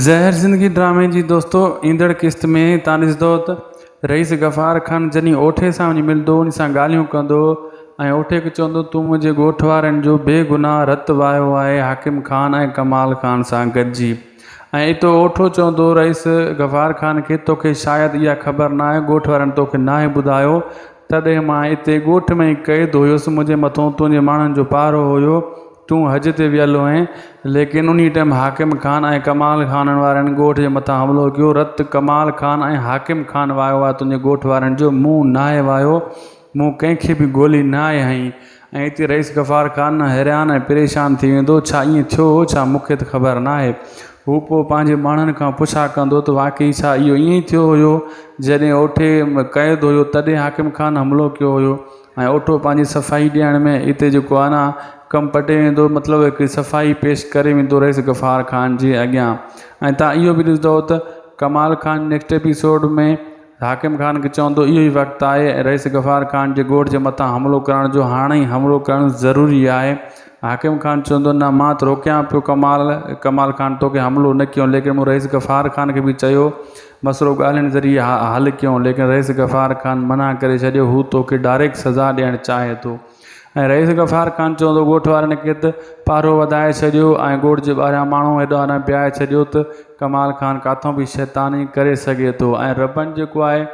زهر زندگي ڊرامي جي دوستو ايندڙ قسط ۾ تان ڏسدو ته رئيس غفار خان جني اوٺي سان وڃي ملدو ان سان ڳالهيون ڪندو ۽ اوٺي کي چوندو تون منهنجي ڳوٺ وارن جو بي گناهه رت وهايو آهي حاڪم خان ۽ ڪمال خان سان گڏجي ۽ اتو اوٺو چوندو رئيس غفار خان کي توکي شايد اها خبر ناهي ڳوٺ وارن توکي ناهي ٻڌايو تڏهن مان اتي ڳوٺ ۾ ئي قيد هيس، منهنجي مٿان تنهنجي ماڻهن جو پهرو هيو، تون حج تي ويل هئين، ليڪن انهيء ٽيم حاڪم خان ۽ ڪمال خانن وارن ڳوٺ جي مٿان حملو ڪيو، رت ڪمال خان ۽ حاڪم خان واهيو آهي، تنهنجي ڳوٺ وارن جو مون ناهي واهيو، مون ڪنهن کي به گولي ناهي هنئي، ۽ اتي رئيس غفار خان حيران ۽ پريشان ٿي ويندو، ڇا ائين ٿيو هو ڇا؟ مون کي ته خبر ناهي. هو پوء پنهنجي ماڻهن کان پڇا ڪندو ته واقعي ڇا اهو ائين ئي ٿيو هيو؟ جڏهن اوٺي ۾ قيد هيو تڏهن حاڪم خان حملو ڪيو هيو ۽ اوٺو پنهنجي صفائي ڏيڻ ۾ اتي جيڪو آهي نه ڪم پٽي ويندو مطلب هڪڙي صفائي پيش ڪري ويندو رئيس غفار خان جي اڳيان ۽ تان اهو به ڏسندؤ ته ڪمال خان نيڪسٽ ايپيسوڊ ۾ حاڪم خان کي چوندو اهو ئي وقت آهي ۽ رئيس غفار خان جي ڳوٺ جي مٿان حملو ڪرڻ جو هاڻ ئي حملو ڪرڻ ضروري آهي. حاڪم خان چوندو نه مان ته روڪيان پيو ڪمال ڪمال خان توکي حملو نه ڪيون ليڪن مون رئيس غفار خان کي به چيو مسئلو ڳالهين ذريعي حل ڪيون ليڪن رئيس غفار خان منع ڪري ڇڏيو هو توکي ڊائريڪٽ سزا ڏيڻ چاهي ٿو. ۽ رئيس غفار خان چيو ته ڳوٺ وارن ڪيت پهرو وڌائي ڇڏيو ۽ ڳوٺ جي ٻاهريان ماڻهو هيڏو آرام پيائي ڇڏيو ته ڪمال خان ڪاٿو به شيطاني ڪري سگهي ٿو ۽ ربن جيڪو آهي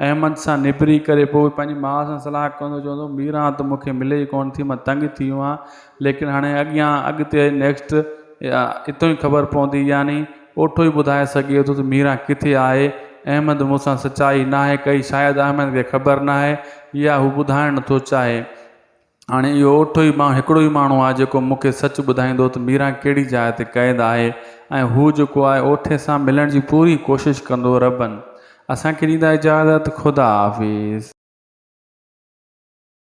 احمد سان نبري ڪري پوء پنهنجي ماء سان صلاح ڪندو چوندو ميران ته مون کي ملي ئي ڪونه ٿي مان تنگ ٿي ويو آهيان ليڪن هاڻي اڳيان اڳتي نيڪسٽ اتو ئي خبر پوندي يعني پوٺو ئي ٻڌائي سگهي ٿو ته ميران ڪٿي آهي. احمد مون سان سچائي ناهي ڪئي، شايد احمد کي خبر ناهي يا هو ٻڌائڻ نٿو چاهي. هاڻي اهو اوٺو ئي ماڻهو هڪڙو ئي ماڻهو آهي جيڪو مون کي سچ ٻڌائيندو ته ميران ڪهڙي جاء تي قيد آهي ۽ هو جيڪو آهي اوٺي سان ملڻ جي پوري ڪوشش ڪندو. ربن اسان کي ڏيندا اجازت. خدا حافظ.